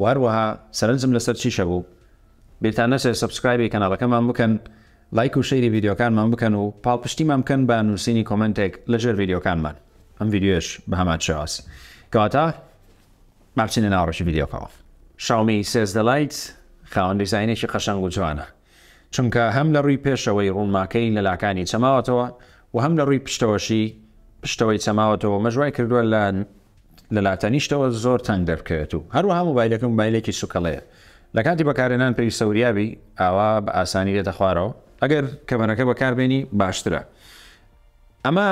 وە هەروەها سەرنجم لەسەر چیشە بوو بیرتان نەچێت سەبسکرایبی کەناڵەکەمان بکەن لایک و شەیری ڤیدیۆکانمان بکەن و پاڵپشتیمان بکەن بە نووسینی کۆمێنتێک لە ژێر ڤیدیۆکانمان ئەم ڤیدیۆش بە هەمان شێواز کەواتە ماچینە ناوەڕۆکی ڤیدیۆکەوە شاومی سێزدە لایت خاوەن دیزاینێکی قەشەنگ و جوانە چونکە هەم لە رووی پێشەوەی روونماکەی لە لاکانی چەماوەتەوە و هەم لە رووی پشتەوەشی پشتەوەی چەماوەتەوە و مەش وای کردووە لە لە لاتەنیشتەوە زۆر تەنگ دەربکەوێت و هەروەها مۆبایلەکە مۆبایلێکی سووکەڵەیە لە کاتی بەکارهێنان پێویستە وریا بی ئاوا بە ئاسانی دێتە خوارەوە ئەگەر کەمەرەکە بەکاربێنی باشترە ئەمە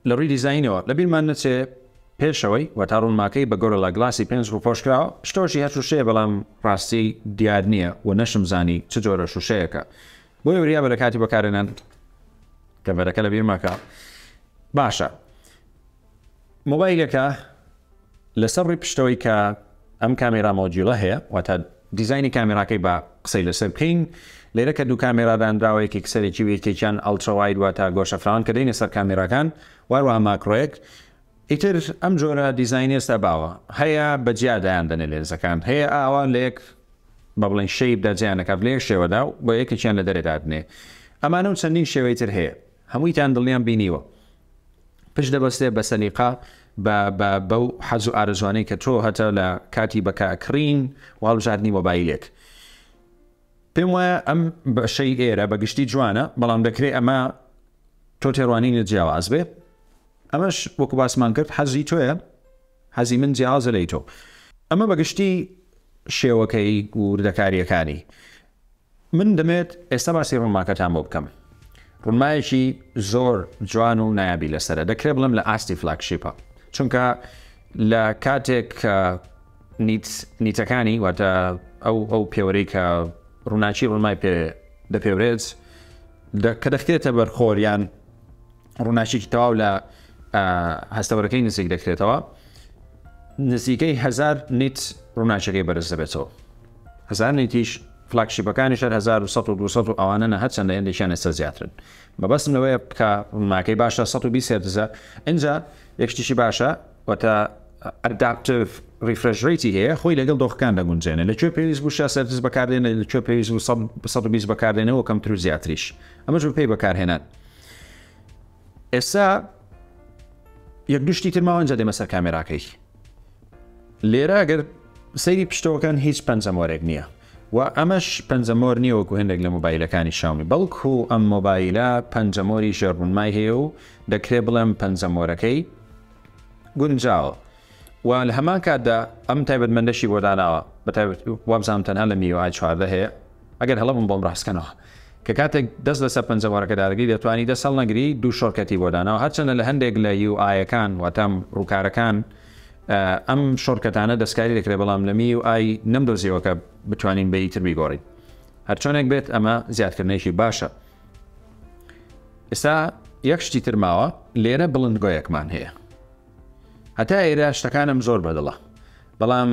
لە ڕووی دیزاینەوە لە بیرمان نەچێ پێشەوەی وەتا ڕوونماکەی بە گۆرلا گڵاسی پێنج ڕووپۆش کراوە شتۆشی هەر شووشەیە بەڵام ڕاستی دیار نییە و نەشم زانی چ جۆرە شووشەیەکە بۆیە وریا بە لە کاتی بەکارهێنان کەڤەرەکە لە بیر مەکە باشە مۆبایلەکە لەسەر ڕووی پشتەوەی کە ئەم کامێرا مۆدیوڵە هەیە واتە دیزاینی کامێراکەی با قسەی لەسەر بکەین لێرە کە دوو کامێرا دانراوە یەکێک سەرەکی و یەکێکیان ئەڵترا واید واتە گۆشە فراوان کە دەینە سەر کامێراکان واروها ماکرۆیەک ئیتر ئەم جۆرە دیزاینی ئێستا باوە هەیە بە جیا دایان دەنێ لێنزەکان هەیە ئاوا لە یەک بە بڵێن شەیب دەجیان نەکات لێ شێوەدا و بە یەکێکیان لە دەرێ دادنێ ئەمانە و چەندین شێوەی تر هەیە هەموویتان دڵنیان بینیوە پشت دەبەستێ بە سەلیقە بە بە بەو حەز و ئارەزوانەی کە تۆ هەتە لە کاتی بەکە کڕین و هەڵبژاردنی مۆبایلێک پێم وایە ئەم بەشەی ئێرە بە گشتی جوانە بەڵام دەکرێت ئەمە تۆ تێڕوانینە جیاواز بێ ئەمەش وەکو باسمان کرد حەزی تۆیە حەزی من جیاوازە لی تۆ ئەمە بەگشتی شێوەکەی و وردەکاریەکانی من دەمەوێت ئێستا باسی ڕونماکەتان بۆ بکەم ڕونمایەکی زۆر جوان و نایابی لەسەرە دەکرێت بڵێم لە ئاستی فلاکشیپە چونکە لە کاتێک کە نیتەکانی واتە ئەو ئەو پێوەرەی کە ڕووناچی ڕوونمای پێ دەپێورێت کە دەخرێتە بەرخۆریان ڕووناکیەکی تەواو لە هەستەوەرەکەی نزیک دەکرێتەوە نزیکەی هزار نیت ڕووناچەکەی بەرز دەبێتەوە هزار نیتیش فلاکشیپەکانی شەر 1920 و ئەوانە نە هەرچەندە هێندێکیان ئێستا زیاترن مەبەستم لەوەیە بکە ڕووناکەی باشە 120 هێرتزە ئەجا یەکشتیشی باشە وەتە ئەداپتف ریفرژریتی هەیە خۆی لەگەڵ دۆخەکان دەگونجێنە لە کوێ پێویست بوو سەرز بەکاردێنە لە کوێ پێویست بوو 120 بەکاردێنەوە کەمتر و زیاتریش ئەمەش بە پێی بەکارهێنان ئێستا یەک گشتی تر ماوەنجە دێمە سەر کامێراکەی لێرە گەر سەیری پشتەوەکان هیچ پەنجەمۆرێک نییە و ئەمەش پەنجەمۆر نییەوەکو هەندێک لە مۆبایلەکانی شاومی بەڵکو ئەم مۆبایلە پەنجەمۆری ژێربوونمای هەیە و دەکرێت بڵێم پەنجەمۆرەکەی گونجاوە و لە هەمان کاتدا ئەم تایبەتمەندەشی بۆ داناوە بە تایبەت وابزانم تەنها لە میوە ئای چواردە هەیە ئەگەر هەڵە بم بۆم ڕاستکەنەوە کە کاتێک دەست لەسەر پەنجەمۆرەکە دادەگری دەتوانی دەست هەڵنەگری دوو شۆرکەتی بۆ داناوە هەرچەندە لە هەندێک لە یو ئایەکان واتام ڕووکارەکان ئەم شۆرکەتانە دەستکاری دەکرێت بەڵام لە میو ئای نەمدۆزیەوە کە بتوانین بە یتر بیگۆڕین هەرچۆنێک بێت ئەمە زیادکردنێکی باشە ئێستا یەک شتی ترماوە لێرە بڵندگۆیەکمان هەیە هەتا ئێرە شتەکانم زۆر بەدڵە بەڵام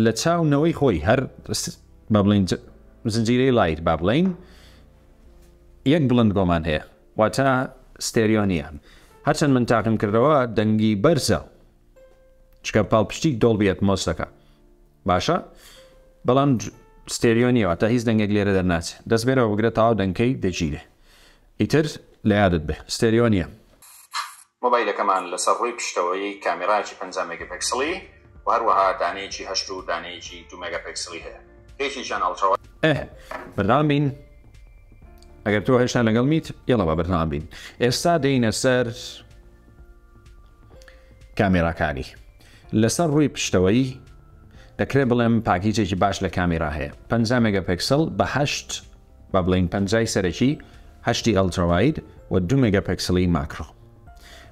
لە چاو نەوەی خۆی هەر بە بڵین زنجیرەی لایت با بڵین یەک بڵند گۆمان هەیە واتە ستێریۆنیە هەرچەند من تاقم کردەوە دەنگی بەرزە چکە پاڵپشتی دۆڵبیەت مۆستەکە باشە بەڵام ستێریۆنیەوە تا هیچ دەنگێک لێرە دەرناچ دەست بێرەوە بگرە تاوا دەنگکەی دەگیرێ ئیتر لە یادت بێ ستێریۆنیە مۆبایلەکەمان لەسەر ڕووی پشتەوەی کامێرایەکی پەنجا مێگەپێکسڵی و هەروەها دانەیەکی هەشت و دانەیەکی دوو مێگاپێکسڵی هەیە کە یەکێکیان ئەڵترا ئەه بەردەوام بین ئەگەر تۆ هێشتا لەگەڵ میت یڵە بە بەردەوام بین ئێستا دێینە سەر کامێراکانی لەسەر ڕووی پشتەوەی دەکرێت بڵێم پاکیجێکی باش لە کامێرا هەیە 50 مێگەپێکسل بەهشت با بڵێین پەنجای سەرەکی هەشتی ئەلتراواید و دوو مێگاپێکسڵی ماکرۆ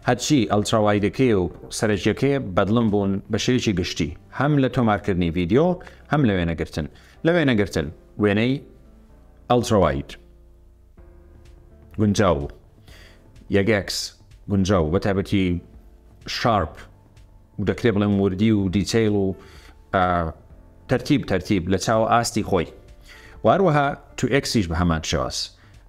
هەرچی ئەلتراوایدەکەیە و سەرەکیەکەیە بەدڵم بوون بە شێوەیەکی گشتی هەم لە تۆمارکردنی ڤیدیۆ هەم لە وێنەگرتن لە وێنەگرتن وێنەی ئەلتراواید گونجاو بوو یەگەکس گونجاو بە تایبەتی شارپ دەکرێ بڵێم وردی و دیتەیل و تەرتیب تەرتیب لە چاوە ئاستی خۆی واروەها تو ئەکسیش بە هەمان شێواز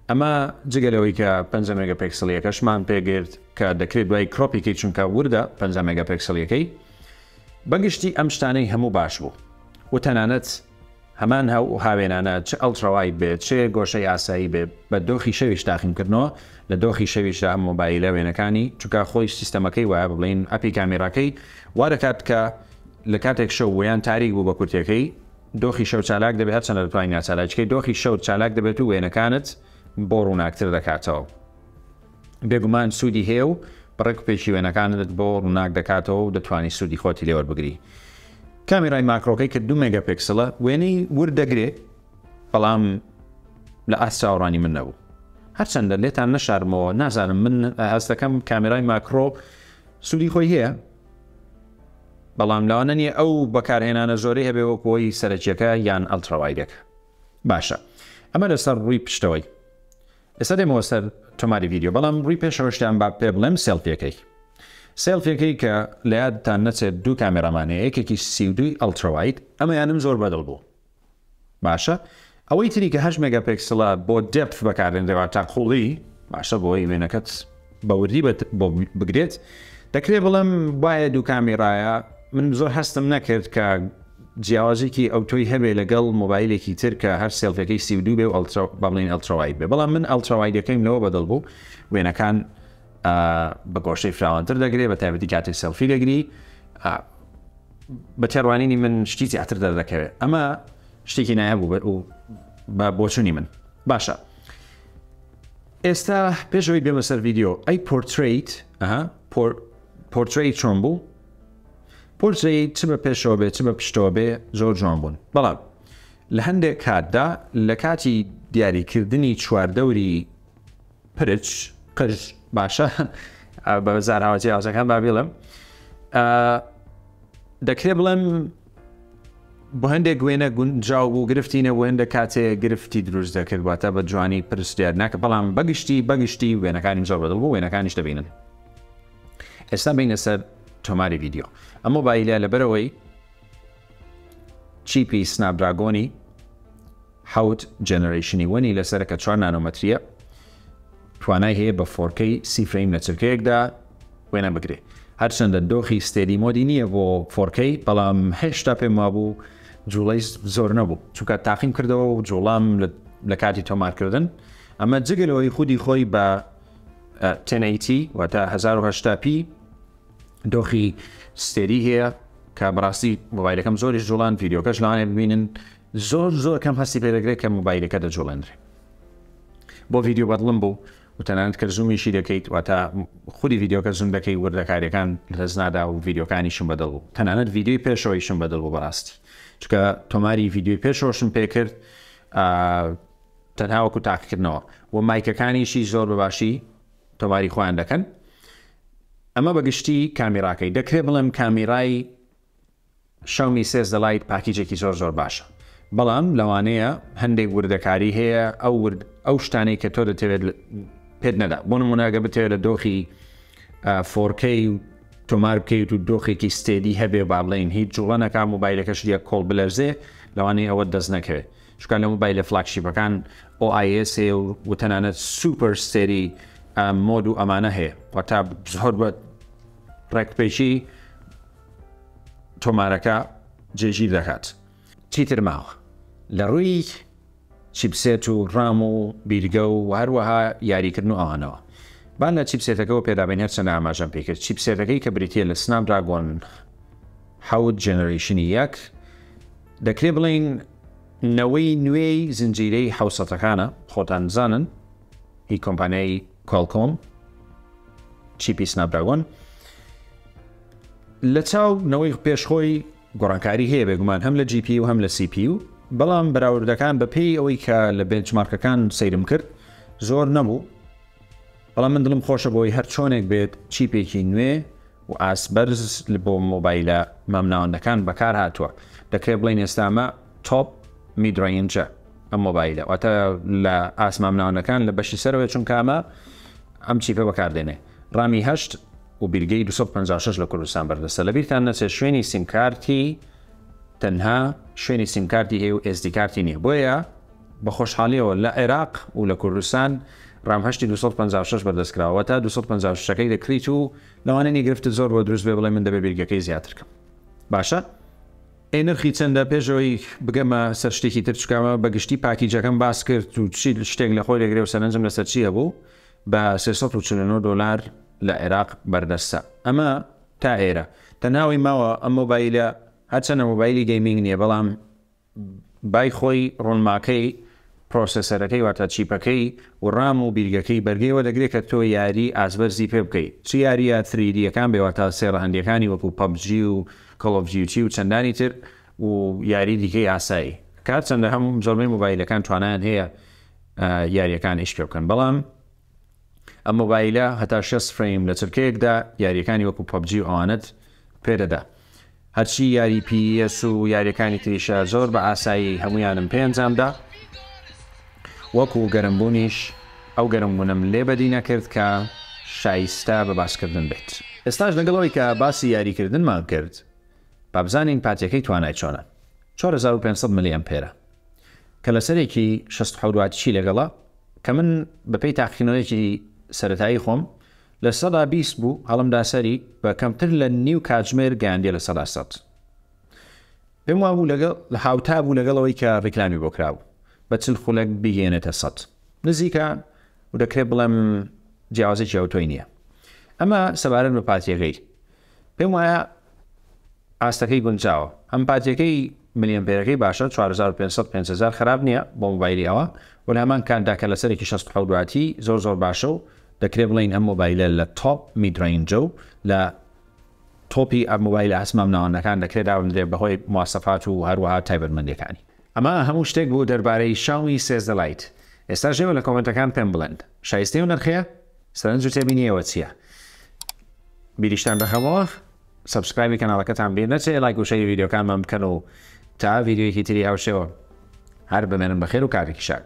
ئەمە جگە لەوەی کە 5 مگە پێکسلیەکەشمان پێگرت کە دەکرێت دوای کرۆپیکەی چونکە وردە 5 مگە پێکسلیەکەی بەگشتی ئەم شتانەی هەموو باش بوو و تەنانەت هەمان هەو و هاوێنانە چ ئەڵتراوایت بێ چ گۆشەی ئاسایی بێ بە دۆخی شەویش تاقیم کردنەوە لە دۆخی شەویشدا ئەم مۆبایلە وێنەکانی چونکە خۆی سیستەمەکەی وایە بڵێین ئەپی کامیراکەی وا دەکات کە لە کاتێک شەو ویان تاریک بوو بە کورتەکەی دۆخی شەو چالاک دەبێت هەرچەندە دەتوانین ناچالاکیکەی دۆخی شەوت چالاک دەبێت و وێنەکانت بۆ ڕووناکتر دەکاتەوە. بێگومان سوودی هەیە و بڕێک و پێکی وێنەکانت بۆ ڕووناک دەکاتەوە و دەتوانی سوودی خۆتی لێ وەربگری. کامیرای ماکرۆکەی کە دوو مێگاپێکسڵە وێنەی ورد دەگرێ بەڵام لە ئاست چاوەڕانی من نەبوو. هەرچەندە لێتان نەشارمەوە نازانم من هەست دەکەم کامیرای ماکرۆ سوودی خۆی هەیە بەڵام لەوانە نیە ئەو بەکارهێنانە زۆری هەبێ وەکۆی سەرەکیەکە یان ئەلتراوایدەکە باشە ئەمە لەسەر ڕووی پشتەوەی ئێستا دێمەوە سەر تۆماری ڤیدیۆ بەڵام ڕووی پێشەوەشتان با پێ بڵێم سێڵفیەکەی سێڵفیەکەی کە لە یادتان نەچێت دوو کامێرامان هەیە یەکێکی سی و دووی ئەڵترا واید ئەمەیانم زۆر بەدڵ بوو باشە ئەوەی تری کە هەشت مێگا پێکسڵە بۆ دێپف بەکارێنرێ واتە قووڵی باشە بۆی وێنەکەت بە وردی بۆ بگرێت دەکرێت بڵم وایە دوو کامیرایە من زۆر هەستم نەکرد کە جیاوازێکی ئەو تۆی هەبێ لەگەڵ مۆبایلێکی تر کە هەر سێڵفەکەی سی دو بێ و ئەلترا بەڵین ئەلتراوای بێ بەڵام من ئەلتراوایدەکەیم لەوە بەدڵ بوو وێنەکان بە گۆشەی فراوانتر دەگرێت بە تایبەتی کاتی سێلفی دەگری بە تێڕوانینی من شتی زیاتر دەردەکەوێت ئەمە شتێکی نایە بوو بەر و بە بۆچوونی من باشە ئێستا پێش ئەوی بێمە سەر ڤیدیۆ ئەی پۆرتریت ئەها پۆرتری چۆن بوو پۆرتری چ بە پێشەوە بێ چ بە پشتەوە بێ زۆر جوان بوون بەڵام لە هەندێک کاتدا لە کاتی دیاریکردنی چواردەوری پرچ قژ باشە بە زاراوە جیاوازەکان با بڵم دەکرێ بڵێم بۆ هەندێک وێنە گونجاو بوو گرفتی نەبوو هەندێک کاتێ گرفتی دروست دەکرد واتە بە جوانی پرسیار ناکە بەڵام بەگشتی بەگشتی وێنەکانی زۆر بەدڵ بوو وێنەکانیش دەبینن ئێستا بینە سەر تۆماری ڤیددیو ئەمە بایلە لەبەرەوەی چیپی سنابراگۆنی حەوت جەنەرەیشنی وەنی لەسەرە کە چوار نانۆمەترییە، توانای هەیە بە فۆرکەی سی فرەیم لە چرکەیەکدا وێنە بگرێ. هەرچەندە دۆخی ستێدی مۆدی نییە بۆ فۆرکەی، بەڵام هێشتا پێم وابوو جوڵەی زۆر نەبوو، چونکە تاقیم کردەوە و جوڵام لە کاتی تۆمارکردن، ئەمە جگە لەوەی خودی خۆی بە تێنەیتی واتە 1970 پی دۆخی ستێری هەیە کە بەڕاستی مۆبایلەکەم زۆریش جوڵان ڤیدیۆکەش لەوانێ ببینن زۆر زۆر کەم هەستی پێ دەکرێت کە مۆبایلەکە دەجوڵێنرێت بۆ ڤیددیو بەدڵم بوو و تەنانەت کە زومیشی دەکەیت واتە خودی ڤیددیوکە زوم دەکەی وردەکاریەکان لەس نادا و ڤیددیوکانیشم بەدڵ بوو تەنانەت ڤیددیوی پێشەوەیشم بەدڵ بوو بەڕاستی چکە تۆماری ڤیددیوی پێشەوەشم پێکرد تەنهاوەکو تاقیکردنەوە و مایکەکانیشی زۆر بەباشی تۆماری خۆیان دەکەن ئەمە بەگشتی کامیراکەی دەکرێت بڵێم کامیرای شاومی سێ زە لایت پاکیجێکی زۆر زۆر باشە بەڵام لەوانەیە هەندێک وردەکاری هەیە ئەو ورد ئەو شتانەی کە تۆ دەتەوێت پێت نەدا بۆ نموناگە بتەوێت لە دۆخی فۆرکەی و تۆمار بکەیت و دۆخێکی ستێدی هەبێ با بڵین هیچ جوڵەنەکە موبایلەکەش دیە کۆڵ بلەرزێ لەوانەیە ئەوە دەست نەکەوێت شکان لە موبایلە فلاکشیپەکان OIS هەیە و تەنانەت سوپەر ستێری مۆد و ئەمانە هەیە وەتا زۆر بە ڕێکپێکی تۆمارەکە جێگیر دەکات. چیتر ماوە لەڕووی چیپسێت و ڕام و بیرگە و هەروەها یاریکردن و ئەوانەوە با لە چیپسێتەکەوە پێدابین هەرچەندە ئاماژەم پێکرد چیپسێتەکەی کە بریتیە لە سناپ دراگۆن حەوت جێنەرەیشنی یەک دەکرێ بڵین نەوەی نوێی زنجیرەی حوسەتەکانە خۆتان بزانن هی کۆمپانیای کۆلکۆم چیپی سناپ دراگۆن لە چاو نەوەی پێش خۆی گۆڕانکاری هەیە بێگومان هەم لە GPU و هەم لە CPU بەڵام بەراوردەکان بە پێی ئەوەی کە لە بێنچمارکەکان سەیرم کرد زۆر نەبوو بەڵام من دڵم خۆشە بۆی هەر چۆنێک بێت چیپێکی نوێ و ئاسبەرز بۆ مۆبایلە مامناوەندەکان بەکار هاتووە دەکرێت بڵین ئێستامە تۆپ میدرینجە ئەم مۆبایلە واتە لە ئاسمامناوەندەکان لە بەشی سەرەوەی چونکامە ئەم چیپە بەکاردێنێ ڕامی هەشت و بیلگەی دوو سەد و پەنجا و شەش لە کوردستان بەردەستە لەبیرتان نەچێت شوێنی سیمکارتی تەنها شوێنی سیمکارتی هەیە و ئێسدی کارتی نییە بۆیە بە خۆشحالیەوە لە عێراق و لە کوردستان رام هەشتی دوو سەد و پەنجا و شەش بەردەست کراوە واتە دوو سەد و پەنجا و شەش ەکەی دەکریت و لەوانەیە نی گرفتت زۆر بۆ دروست بێ بڵێ من دەبێ بیلگەکەی زیاتر کەم باشە ئەی نرخی چەندە پێش ئەوەی بگەمە سەر شتێکی تر چکەمە بە گشتی پاکیجەکەم باس کرد و چی شتێک لە خۆی دەگرێ و سەرنجم لەسەر چی هەبوو بە سێ سەد و چل و نۆ دۆلار لە عێراق بەردەستە ئەمە تا ئێرە تەنها ئەوەی ماوە ئەم مۆبایلە هەرچەندە مۆبایلی گەیمینگ نییە بەڵام بای خۆی ڕۆنماکەی پرۆسێسەرەکەی واتە چیپەکەی و ڕام و بیرگەکەی بەرگەی وە دەگرێت کە تۆ یاری ئازبەرزی پێ بکەی چ یاریە تری دییەکان بێ واتە سێڕە هەندیەکانی وەکو پەبجی و کەڵۆڤجیوتی و چەندانی تر و یاری دیکەی ئاسایی کار چەندە هەم زۆربەی مۆبایلەکان توانایان هەیە یاریەکان ئیش پێبکەن بەڵام ئەم مۆبایلە هەتا شەست فرەیم لە چرکەیەکدا یاریەکانی وەکو پەبجی و ئەوانت پێدەدا هەرچی یاری پیس و یاریەکانی تریشە زۆر بە ئاسایی هەمویانم پێنجامدا وەکو گەرمبوونیش ئەو گەرمبوونم لێ بەدی نەکرد کە شایستە بە باسکردن بێت ئێستاش لەگەڵەوەی کە باسی یاریکردنمان کرد بابزانین پاتیەکەی توانای چۆنە 4500 ملی ئەمپێرە کە لەسەرێکی شەست حەورواتیی لەگەڵە، کە من بەپێی تاقیکردنەوەیەکی سەرەتایی خۆم لە سەدا بیست بوو، هەڵمدا سەری بە کەمتر لە نیو کاتژمێر گەیاندیە لە سەدا سەد. پێم وابوو لەگەڵ هاوتا بوو لەگەڵ ئەوەی کە ڕیکلامی بۆ کرابوو بە چل خولەک بیگەیەنێتە سەد. نزیکە و دەکرێ بڵێم جیاوازێکی ئەوتۆی نییە. ئەمە سەبارەت بە پاتریەکەی. پێم وایە ئاستەکەی گونجاوە ئەم پاتیەکەی ملیەمپێرەکەی باشە چوار هەزار و پێنج سەد پێنج هەزار خراپ نییە بۆ مۆبایلی ئەوە وە لە هەمان کاتدا کە لەسەرێکی شەست و حەوت واتی زۆر زۆر باشە و دەکرێ بڵێین ئەم مۆبایلە لە تۆپ میدرەینجە و لە تۆپی ئەم مۆبایلە هەسمامناوەندەکان دەکرێت دابنرێت بەهۆی مواسەفات و هەروەها تایبەتمەندیەکانی ئەمە هەموو شتێک بوو دەربارەی شاومی سێزدە لایت ئێستا ژێوە لە کۆمێنتەکان پێم بڵێن شایستەی و نرخەیە سەرنج و تێبینی ئێوە چییە بیریشتان دەخەمەوە سبسکرایبی کەناڵەکەتان بیر نەچێ لایک و شەری ڤیددیوکانمان بکەن و تا ڤیددیویەکی تری هاوشێوە هەر بمێنن بەخێر و کارێکی شاد